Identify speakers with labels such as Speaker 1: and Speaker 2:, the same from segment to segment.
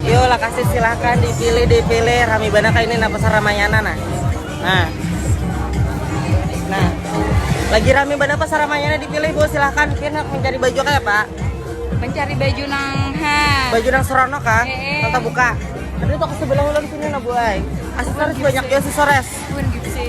Speaker 1: Yo lakasi silahkan dipilih dipilih rami banyak ini nah pasar Ramayana nah. Nah. Nah. Lagi rami banyak pasar Ramayana dipilih Bu silahkan pian mencari baju kayak Pak. Mencari baju
Speaker 2: nang ha. Baju nang
Speaker 1: serono kah? Ee. Tata buka. Ada toko sebelah ulang sini nah Bu ay. Asesores banyak ya asesores. Pun gitu sih.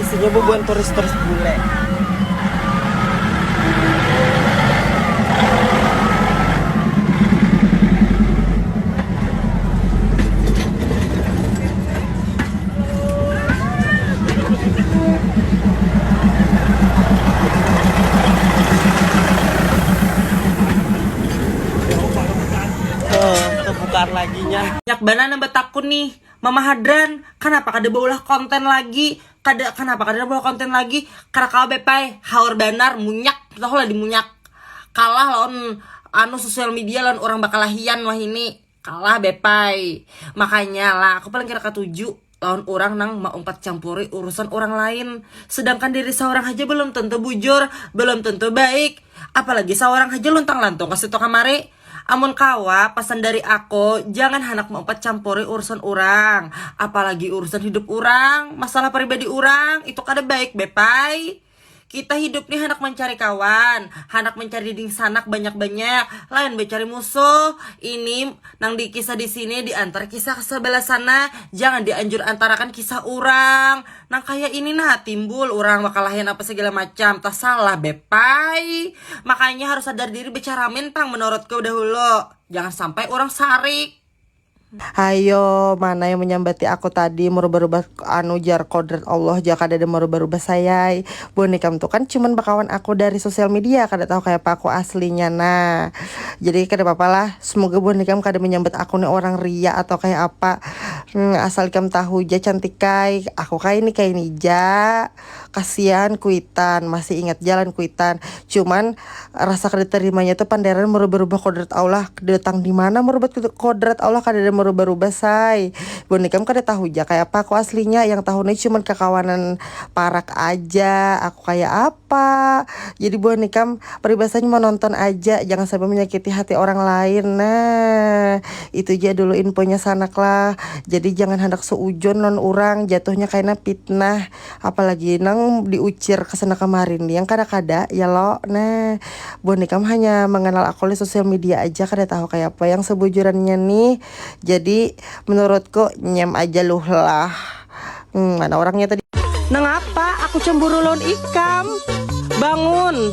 Speaker 1: isinya bubuhan turis-turis bule banana betakun nih Mama Hadran, kanapa kada baulah konten lagi, kada kanapa kada baulah konten lagi, kada kawa beb ai, haur banar, munyak, tahu lah dimunyak, kalah lawan anu sosial media lawan urang bakalahian wahini, kalah beb ai, makanya lah aku paling kada katuju lawan urang nang maumpat campuri urusan urang lain, sedangkan diri saurang haja balum tentu bujur, balum tentu baik, apalagi saurang haja luntang lantung kasitu kamari. Amun kawa, pasan dari ako, jangan handak meupat campuri urusan urang, apalagi urusan hidup urang, masalah pribadi urang, itu kada baik be pai. Kita hidup ni handak mancari kawan, handak mancari dingsanak banyak-banyak, lain bacari musuh. Ini nang di kisah di sini di antar kisah sabalah sana, jangan di anjur antarakan kisah urang. Nang kaya ini nah timbul urang bakalahian apa segala macam tasalah beb ai makanya harus sadar diri becaramin pang menurutku dahulu jangan sampai urang sarik. Hayo mana yang menyambati aku tadi merubah-rubah anu jar kodrat Allah ja kadada merubah-rubah sayai. Buhan ikam tu kan cuman bakawan aku dari sosial media kada tahu kayapa aku aslinya nah jadi kada papa lah semoga buhan ikam kada menyambat aku ni orang riak atau kaya apa mm asal ikam tahu ja cantikai aku kaini kaini ja kasian kuitan masih ingat ja lawan kuitan cuman Rasa kada tarimanya tu panderan marubah-rubah kodrat Allah datang dimana marubat kodrat Allah kadada marubah-rubah say buhan ikam kada tahu ja kaya apa aku aslinya yang tahu ni cuman kakawanan parak aja aku kaya apa jadi buhan ikam paribasanya manonton aja jangan sampai manyakiti hati orang lain nah itu ja dulu infonya sanak lah jadi jangan handak seujon lawan urang jatuhnya kaina pitnah. apalagi nang diucir kesana kemari ni yang kada kada ya lo nah buhan ikam hanya mengenal aku oleh sosial media aja kada tahu kaya apa yang sebujurannya nih jadi menurutku nyem aja luhlah hmm mana orangnya tadi. Nangapa aku cemburu lawan ikam? Bangun.